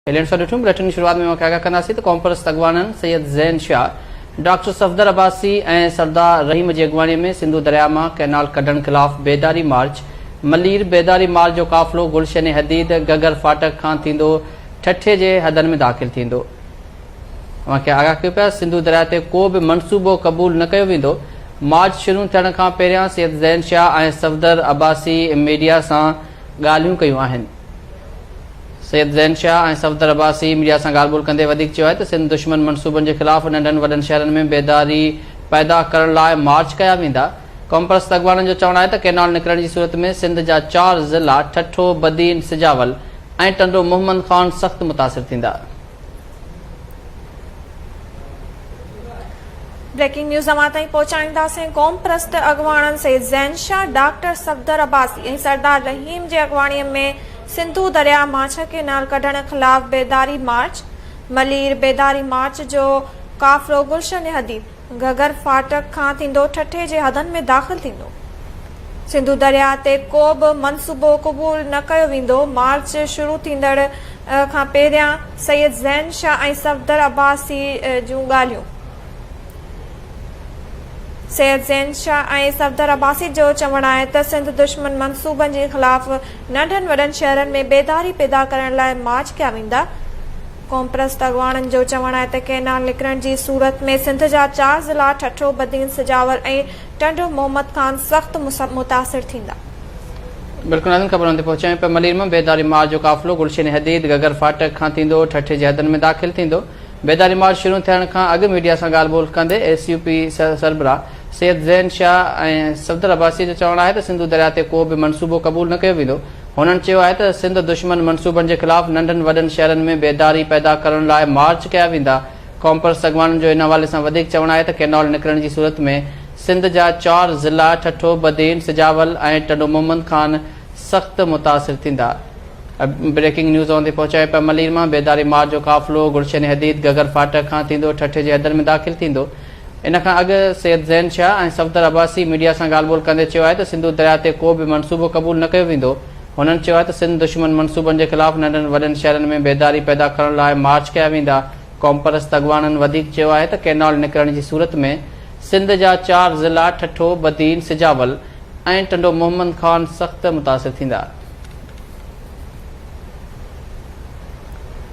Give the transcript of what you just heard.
Headlines سان ڏٺون bulletin جي شروعات ۾ اوهان کي آگاهه ڪنداسين ته قومپرست اڳواڻن سيد زين شاهه، ڊاڪٽر صفدر عباسي ۽ سردار رحيم جي اڳواڻي ۾ سنڌو درياهه مان ڪئنال ڪڍڻ خلاف بيداري مارچ، ملير بيداري مارچ جو قافلو گلشن حديد گگر ڦاٽڪ کان ٿيندو ٺٽي جي حدن ۾ داخل ٿيندو. اوهان کي آگاهه ڪيو پيا سنڌو درياهه تي ڪو به منصوبو قبول نه ڪيو ويندو مارچ شروع ٿيڻ کان پهريان سيد زين شاهه ۽ صفدر عباسي ميڊيا سان ڳالهيون ڪيون آهن. سيد زين شاهه ۽ صفدر عباسي ميڊيا سان ڳالهه ٻولهه ڪندي وڌيڪ چيو آهي ته سنڌ دشمن منصوبن جي خلاف ننڍن وڏن شهرن ۾ بيداري پيدا ڪرڻ لاء مارچ ڪيا ويندا. قومپرست اڳواڻن جو چوڻ آهي ته ڪينال نڪرڻ جي صورت ۾ سنڌ جا چار ضلعا ٺٽو، بدين، سجاول ۽ ٽنڊو محمد خان سخت متاثر ٿيندا. بريڪنگ نيوز اوهان تائين پهچائينداسين قوم پرست اڳواڻن سيد زين شاهه ڊاڪٽر صفدر عباسي ۽ سردار رحيم جي اڳواڻي ۾ سنڌو درياء مان ڇهه ڪينال ڪڍڻ خلاف بيداري مارچ ملير بيداري مارچ جو قافلو گلشن حديد گهگهر ڦاٽڪ کان ٿيندو ٺٽي جي حدن ۾ داخل ٿيندو. سنڌو درياء تي ڪو به منصوبو قبول نه ڪيو ويندو، مارچ شروع ٿيندڙ کان پهريان سيد زين شاهه ۽ صفدر عباسي جون ڳالهيون سيد زين شاهه ۽ صفدر عباسي جو چوڻ آهي ته سنڌ دشمن منصوبن جي خلاف ننڍن وڏن شهرن ۾ بيداري پيدا ڪرڻ لاء مارچ ڪيا ويندا، قومپرست اڳواڻن جو چوڻ آهي ته ڪئنال نڪرڻ جي صورت ۾ سنڌ جا چار ضلعا ٺٽو، بدين، سجاول ۽ ٽنڊو محمد خان سخت متاثر ٿيندا. بلڪل ناظرين خبرن تي پهچيا آهيون پيا ملير مان بيداري مارچ جو قافلو گلشن حديد گگر فاٽڪ کان ٿيندو ٺٽي جي حدن ۾ داخل ٿيندو بيداري مارچ شروع ٿيڻ کان اڳ ميڊيا سان ڳالهه ٻولهه ڪندي ايس يو پي سربراهه سيد زين شاهه ۽ صفدر عباسي جو چوڻ آهي ته سنڌو درياء تي ڪو به منصوبو قبول نه ڪيو ويندو هنن چيو آهي ته سنڌ دشمن منصوبن جي خلاف ننڍن وڏن شهرن ۾ بيداري پيدا ڪرڻ لاء مارچ ڪيا ويندا. قومپرست اڳواڻن جو ان حوالي سان وڌيڪ چوڻ آهي ته ڪينال نڪرڻ جي صورت ۾ سنڌ جا چار ضلع ٺٽو، بدين، سجاول ۽ ٽنڊو محمد خان سخت متاثر ٿيندا. بريڪنگ نيوز اوهان تائين پهچايو پيا ملير مان بيداري مارچ جو قافلو گلشن حديد گگر ڦاٽڪ کان ٿيندو ٺٽي جي حدن ۾ داخل ٿيندو. ان کان اڳ سيد زين شاهه ۽ صفدر عباسي ميڊيا سان ڳالهه ٻولهه ڪندي چيو آهي ته سنڌو درياهه تي ڪو به منصوبو قبول نه ڪيو ويندو. هنن چيو آهي ته سنڌ دشمن منصوبن جي خلاف ننڍن وڏن شهرن ۾ بيداري پيدا ڪرڻ لاء مارچ ڪيا ويندا. قومپرست اڳواڻن وڌيڪ چيو آهي ته ڪئنال نڪرڻ جي صورت ۾ سنڌ جا چار ضلعا ٺٽو، بدين، سجاول ۽ ٽنڊو محمد خان سخت متاثر ٿيندا.